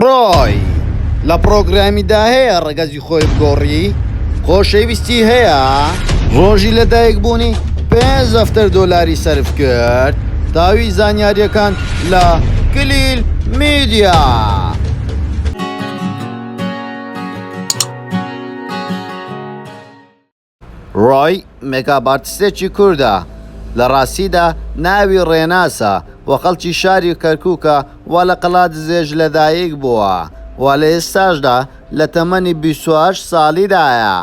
ڕۆی لە پڕۆگرامی دا هەیە ڕەگەزی خۆی بگۆڕی؟ خۆشەویستی هەیە؟ ڕۆژی لە دایک بوونی پێ زەفتەر دۆلاری سەرف کرد تاوی زانیاریەکان لە کلیل میدیا. ڕۆی مێکاپئارتستێکی کوردە لە ڕاستیدا ناوی ڕێناسە و خەڵکی شاری کەرکووکە و لە قەڵادزێش لەدایک بووە و لە ئێستاشدا لە تەمەنی بیست و هەشت ساڵیدایە.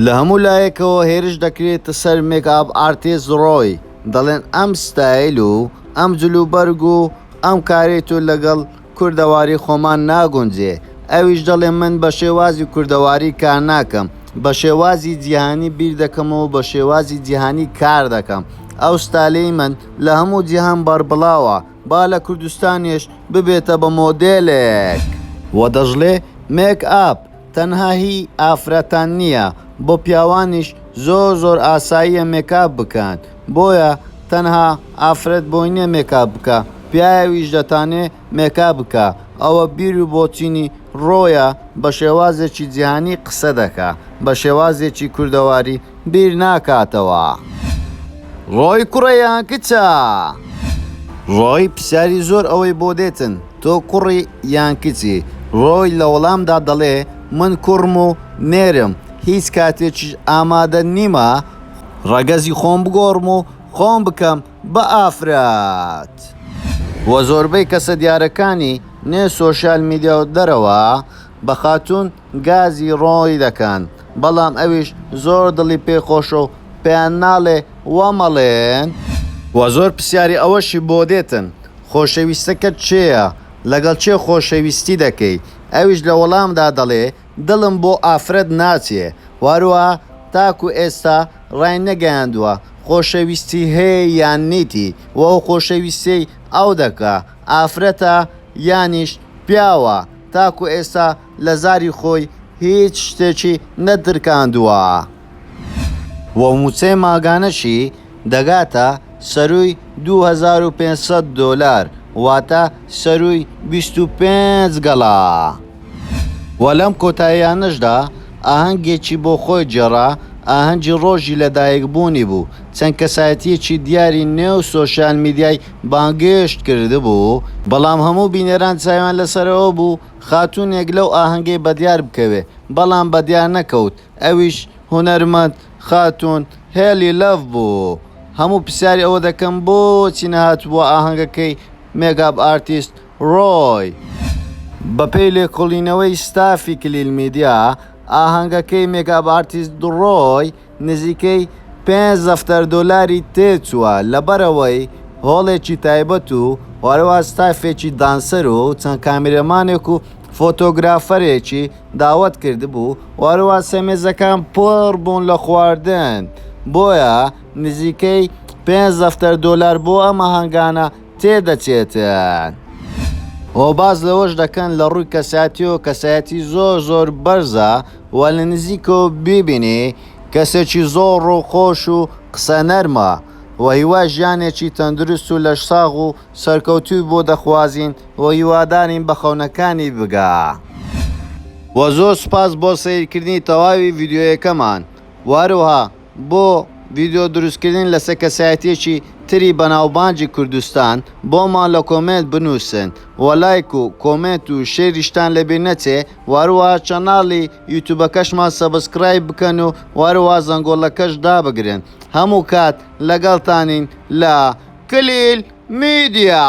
لە هەموو لایەکەوە هێرش دەکرێتە سەر مێکاپئارتیست ڕۆی، دەڵێن ئەم ستایل و ئەم جلوبەرگ و ئەم کارەی تۆ لەگەڵ، کوردەواری خۆمان ناگونجێ. ئەویش دەڵێ من بە شێوازی کوردەواری کار ناکەم، بە شێوازی جیهانی بیر دەکەمەوە و بە شێوازی جیهانی کار دەکەم. ئەو ستایلەی من لە هەموو جیهان بەربڵاوە، با لە کوردستانیش ببێتە بە مۆدێلێک. و دەشڵێ، مێک ئاپ، تەنها هی ئافرەتان نیە بۆ پیاوانیش زۆر زۆر ئاساییە مێکاپ بکەن بۆیە تەنها ئافرەت بۆی نیە مێکاپ بکا پیاویش دەتانێ مێکاپ بکا ئەوە بیر و بۆچینی ڕۆیە بە شێوازێکی جیهانی قسە دەکا بە شێوازێکی کوردەواری بیر ناکاتەوە. ڕۆی کوڕە یا کچە؟ ڕۆی پرسیاری زۆر ئەوەی بۆ دێتن، تۆ کوڕی یان کچی؟ ڕۆی لە وەڵامدا دەڵێ، من کوڕم و نێرم، هیچ کاتێکیش ئامادە نیمە ڕەگەزی خۆم بگۆڕم و خۆم بکەم بە ئافرەت. وە زۆربەی کەسە دیارەکانی نێو سۆشیال میدیا و دەرەوە، بە خاتوون گازی ڕۆنی دەکەن بەڵام ئەویش زۆر دڵی پێ خۆشە و پێیان ناڵێ وا مەڵێن. وە زۆر پسیاری ئەوەشی بۆ دێتن خۆشەویستەکەت کێیە لەگەڵ کێ خۆشەویستی دەکەی ئەویش لە وەڵامدا دەڵێ دڵم بۆ ئافرەت ناچێ وەروە تاکو ئێستا ڕای نەگەیاندوە خۆشەویستی هەیە یان نیتی وە ئەو خۆشەویستیەی ئەو دەکا ئافرەتە یانیش پیاوە تاکو ئێستا لە زاری خۆی هیچ شتێکی نەدرکاندووە و مووچەی مانگانەشی دەگاتە سەرووی دوو هەزار و پێنج سەد دۆلار واتە سەرووی بیست و پێنج گەڵا و لەم کۆتاییانەشدا ئاهەنگێکی بۆ خۆی گێڕا، ئاهەنگی ڕۆژی لەدایکبوونی بوو، چەند کەسایەتییەکی دیاری نێو سۆشیال میدیای بانگێشت کردبوو، بەڵام هەموو بینەران چاویان لەسەرەوە بوو، خاتوونێک لەو ئاهەنگەی بەدیار بکەوێ بەڵام بەدیار نەکەوت ئەویش هونەرمەند خاتوون هێلی لەڤ بوو هەموو پرسیاری ئەوە دەکەم بۆچی نەهاتبووە ئاهەنگەکەی مێگاب ئارتیست ڕۆی؟ بەپێی لێکۆڵینەوەی ستافی کلیل میدیا ئاهەنگەکەی مێگاب ئارتیست ڕۆی نزیکەی پێنج دەفتەر دۆلاری تێچووە لەبەرەوەی هۆڵێکی تایبەت و هەروەها ستافێکی دانسەر و چەند کامێرەمانێک و فۆتۆگرافەرێکی داوەت کردبوو و هەروەها سەرمێزەکان پڕ بوون لە خواردن بۆیە نزیکەی پێنج دەفتەر دۆلار بۆ ئەم ئاهەنگانە تێدەچێتن. و باس لەوەش دەکەن لە ڕووی کەسایەتیەوە کەسایەتی زۆر زۆر بەرزە و لە نزیکەوە بیبینی کەسێکی زۆر ڕووخۆش و قسە نەرمە و هیوای ژیانێکی تەندروست و لەشساغ و سەرکەوتووی بۆ دەخوازین و هیوادارین بە خەونەکانی بگا و زۆر سوپاس بۆ سەیرکردنی تەواوی ڤیدیۆیەکەمان و هەروەها. بۆ ڤیدیۆ دروستکردن لەسەر کەسایەتیەکی تری بەناوبانگی کوردستان بۆمان لە کۆمێنت بنوسن وە لایک و کۆمێنت و شێریشتان لەبیر نەچێ وەروەها چەناڵی یوتوبەکەشمان سەبسکرایب بکەن و وەروەها زەنگۆڵەکەش دابگرن هەموو کات لەگەڵتانین لە کلیل میدیا.